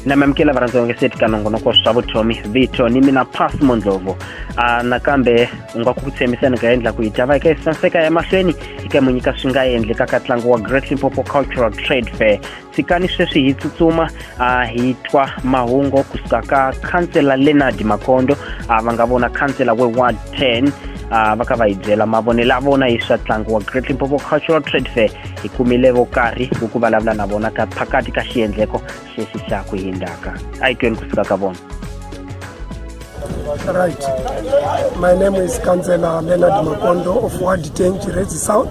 namamkela varhandzi vange seti ka nongonoko swa vutomi vito ni mina pass mondlovu uh, nakambe u nga ku tshembisa ni nga endla ku yi ta va eka yi sanseka emahlweni eka munyika swi nga endlekaka ntlangu wa great limpopo cultural trade fair tshikani sweswi hi tsutsuma a hi twa mahungu kusuka ka khansela leonard makondo a va nga vona khansela we 110 a va ka va hi byela mavonelo ya vona hi swa ntlangu wa great limpopo cultural trade fair hi kumile vo karhi ku ku vulavula na vona ka phakati ka xiendleko xexi xa ku hindzaka a yi tweni kusuka ka vona Right. My name is Councillor Leonard Makondo of Ward 10, Chirezi South.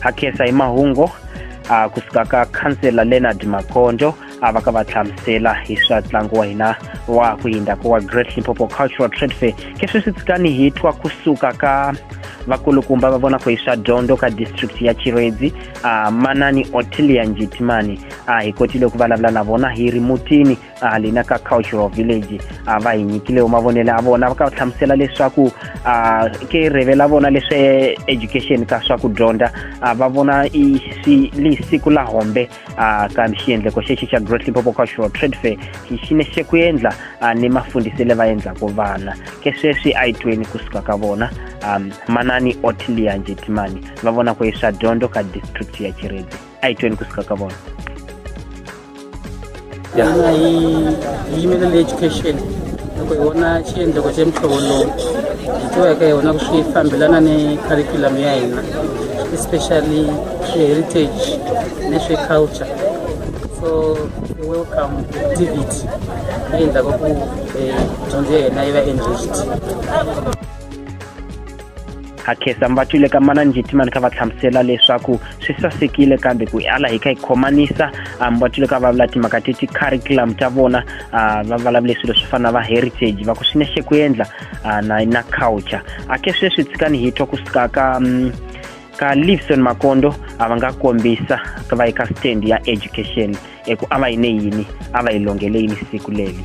hakhensa hi mahungu a kusuka ka khansela leonard makondo a va ka va hlamusela hi swa ntlangu wa hina wa ku yinda ku wa great limpopo cultural trade fair keswi swi tsikani hi twa kusuka ka vakulukumba va vona ku hi swa dyondzo ka district ya chiredzi a manani otilia njitimani a hi kotile ku vulavula na vona hi ri mutini uh, lina ka cultural village uh, va hi nyikile mavonelo ya vona va ka hlamusela leswaku uh, ke reve la vona leswe education ka swa ku dyondza uh, va vona i si li siku la hombe uh, ka xiendleko xexi xa great limpopo cultural trade fair xi ne xe ku endla uh, ni mafundisele va endlaka vana ke sweswi a yi tweni kusuka ka vona um, manani otilianjetimani va vona ku hi swa dyondzo ka district ya chiredzi a yi tweni ku suka ka vona yona yi yimela le education loko hi vona xiendleko xa muhlovo lowu hi tivaka hi vona ku swi fambelana ni curriculum ya hina especially heritage ni swi culture so welcome activity leyi endlaka ku eh, dyondzo ya hina yi va enriched hakhesa mbatwile ka mana njitima ni kha va hlamusela leswaku swi sasekile kambe ku ala hi kha hi khomanisa ah, mbatwile ka va vula timhaka ti ti-curriculum ta vona ah, va vulavule swilo swo fana na va heritage va ku swi nexe ku endla ah, na na culture ake sweswi tshikani hi twa ku suka ka um, ka livson makondo a va nga kombisa va yi ka stand ya education eku a va yi ne yini a va yi longele yini siku leli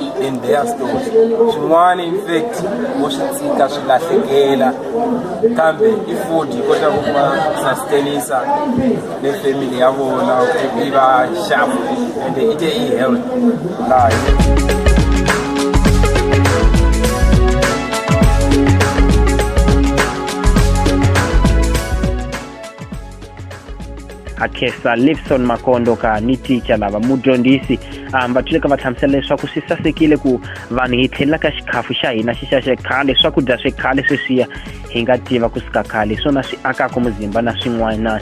i end their story swin'wana infact vo swi tshika swi lahlekela kambe i ford yi kota ku va sustainisa le family ya vona ku yi va sharp and i te i health layo hakhesa livson makondo ka ni ticha lava mudyondzisi um va tluleka va hlamusela leswaku swi sasekile ku vanhu hi tlhelela ka xikhafu xa hina xi xa xekhale swakudya swe khale sweswiya hi nga tiva ku sika khale hi swona swi akaka muzimba na swin'wana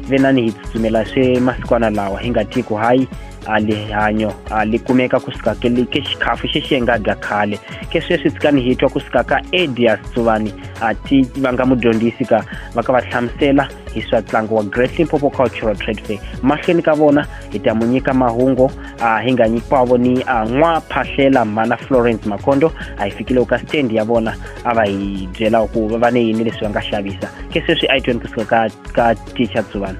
venani hi tsutsumela swe masikwana lawa hi nga tivi ku hayi alihanyo alikumeka kusikakeli ke xikhafu xexi hi nga dya khale ke sweswi tsikani hi twa kusikaka edias tsuvani a ti va nga mudyondzisi ka va ka va hlamusela hi swa ntlangu wa great limpopo cultural trade fair mahlweni ka vona hi ta mu nyika mahungu uh, hi nga nyikiwavo ni uh, n'wa phahlela mhana florence makhondo a hi fikile ka stand ya vona a va hi byela ku va va ne yini leswi va nga xavisa ke sweswi a yi tweni kusuka ka ka teacher tsuvana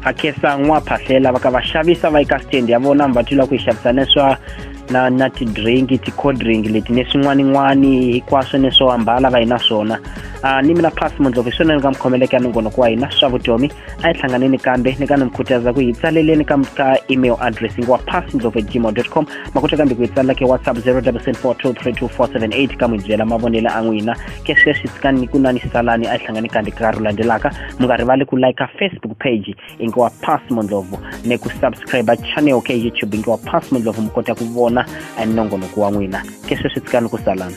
hakesa n'waphahlela va ka va xavisa va yi ka stand ya vona mi va twila ku yi xavisa na swa na na ti-drink ti-cold drink leti ni swin'wanin'wani hinkwaswo ni swo ambala va yi na swona uh, ni mina pass mundlovu hi swona ni ka mi khomeleke ya mingonoko wa hina swa vutomi a yi hlanganeni kambe ni ka ni mi khutaza ku yi tsaleleni ka ka email address wa pass mundlovu at gmail dot com ma kota kambe ku yi tsalela ke whatsapp 0774 232 478 ka n'wi byela mavonelo a n'wina ke sweswi tsikani ni ku nwa ni salani a yi hlangani kanti ka ru landzelaka mi nga rivali ku like facebook page i nge wa pass mondlovu ni ku subscribe channel ke youtube i nge wa pass mondlovu mi kota ku vona a nongonoko wa n'wina ke sweswi tsikani ku salana